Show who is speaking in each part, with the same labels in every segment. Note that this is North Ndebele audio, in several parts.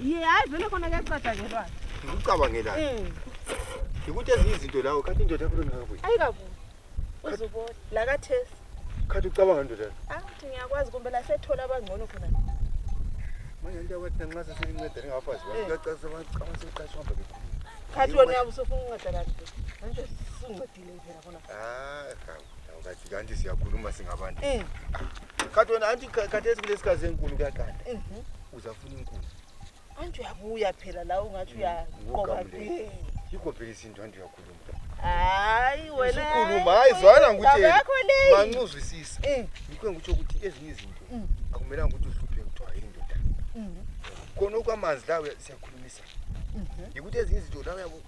Speaker 1: Ye hayi
Speaker 2: vele khona kuyacatshangelwa. Ngikucabangela.
Speaker 1: Eh. Ngikuthi ezinye izinto lawo kanti indoda yakho lengakabuyi. Ayikabuyi.
Speaker 2: Uzobona la kaThesi. Khathi ucabanga
Speaker 1: ndoda. Ah, ngiyakwazi kumbe
Speaker 2: la sethola abangcono khona.
Speaker 1: Manje into yakwethu nxa sesilinceda ningabafazi bakho. Kuyacacisa abacabanga sekuqashwa mbe. Khathi wena
Speaker 2: usufunga unceda kanti. Manje sunginceda.
Speaker 1: andiziyakhuluma singabantu eh. kati wena anti khathesi kulesikazi enkulu kuyagada mhm. uzafuna inkulu anti
Speaker 2: uyabuya phela la ungathi mm, uyaqoba yikho
Speaker 1: phela isintu anti uyakhuluma hayi
Speaker 2: wenakhuluma hayi zwana
Speaker 1: ngikutshemanxuzwisisa eh. yikho engikutsho ukuthi ezinye izinto mm. akumelanga ukuthi uhluphe kuthiwa yindoda mhm. khona okwamanzi lawo siyakhulumisa mhm. yikuthi ezinye izinto la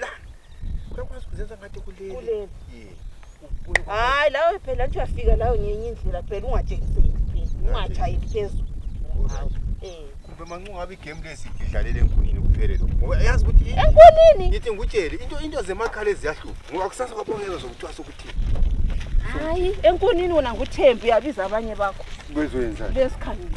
Speaker 1: lana uyakwazi kuzenza ngathi kuleli Kuleli. Ye. Ubuye kwa- hayi lawe phela nje uyafika lawe
Speaker 2: ngenye indlela phela ungatshekiseki phela ungatshayeli phezulu Alright. Eh.
Speaker 1: kumbe manxa ungabe igame le sidlalele enkunini kuphele lokhu ngoba yazi ukuthi i- enkunini ngithi
Speaker 2: ngikutshele into
Speaker 1: into zemakhala eziyahlupha ngoba kusasa kwabongeza zokuthiwa sokuthi
Speaker 2: hayi enkunini wona nguthembi uyabiza
Speaker 1: abanye
Speaker 2: bakho bezwenzani besikhangile